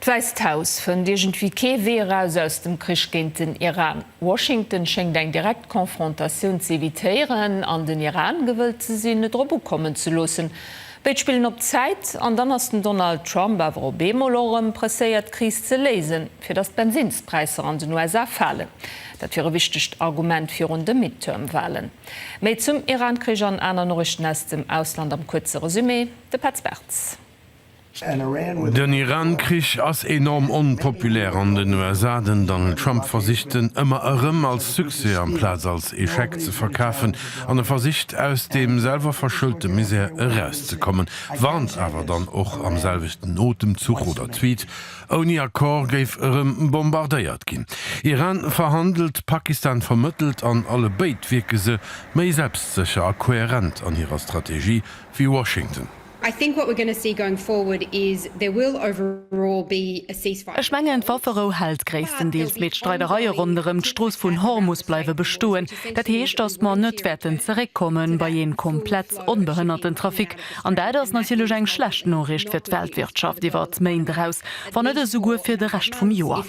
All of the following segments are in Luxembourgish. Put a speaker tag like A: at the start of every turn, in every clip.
A: D'Wäisst Haus fënnt iergendwéi kee Wee eraus aus dem Krich géint den Iran. Washington schéngt eng direkt Konfrontatioun z'evitéieren an den Iran gewëllt ze sinn, net drop ukommen ze loossen. Béid spillen op Zäit an dann ass den Donald Trump awer op eemol och erëm presséiert d'Kris ze léisen, fir datt d'Bensinnspräisser an den USA falen. Dat wier e wichtegt Argument virun de Midterm-Walen. Méi zum Iran-Krich an aner Noriichten aus dem Ausland am kuerze Resumé, de Petz Bertz.
B: Den Iran Krich ass enorm onpopulär an den USA. Den Donald Trump versicht en ëmmer erëm als Succès amplaz als Echec ze verkafen an e versicht aus deem selwer verschëllte Misär eraus ze kommen, warnt awer dann och am selwechten Otemzuch oder Tweet, ouni Accord géif erëm bombardéiert ginn. Iran verhandelt, Pakistan vermëttelt an alle béid wierke se méi selbstsécher a koherent an hirer Strategie wéi Washington. I think what we're gonna
C: see going forward is there will overall be a ceasefire. Ech mengen, d'Wafferou
D: hält gréisstendeels, mee d'Streidereie ronderëm d'Strooss vun Hormus bleiwe bestoen. Dat heescht, datt mer net wäerten zeréckkomme bei ee komplett onbehënnerten Trafic, an dat ass natierlech eng schlecht Noriicht fir d'Weltwirtschaft iwwer d'Méint eraus, wann net esouguer fir de Rescht vum Joer.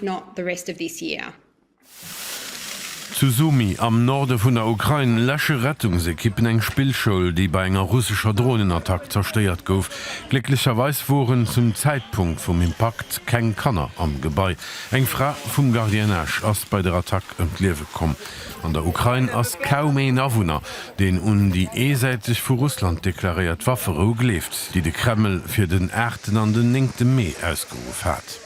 B: Zu Sumy am Norde vun der Ukrain läsche Rettungsekippen eng Spillschoul, déi bei enger russescher Dronenattack zerstéiert gouf. Glécklecherweis woren zum Zäitpunkt vum Impakt keng Kanner am Gebai. Eng Fra vum Gardiennage ass bei der Attack ëm d'Liewe komm. An der Ukrain ass kaum een Awunner, deen un déi eesäiteg vu Russland deklaréiert Wafferou gleeft, déi de Kreml fir den aachten an den néngte Mee ausgeruff hat.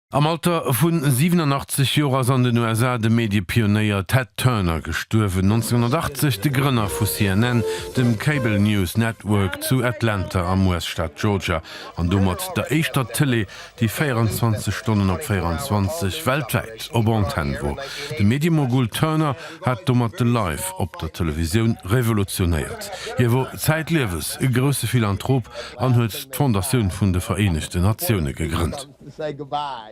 B: Am Alter vu 87 Joer ass an den USA de Medie-Pionéier Ted Turner gestuerwen, 1980 de Grënner vu CNN, dem Cable News Network zu Atlanta am US-Staat Georgia, an domat der éischter Tëlee, déi 24 Stonnen op 24, weltwäit, op Antenn wor. De Medie-Mogul Turner hat domat de Live op der Televisioun revolutionéiert. Hie wor zäitliewes e grousse Philanthrop an huet d'Fondatioun vun de Vereenegten Natioune gegrënnt.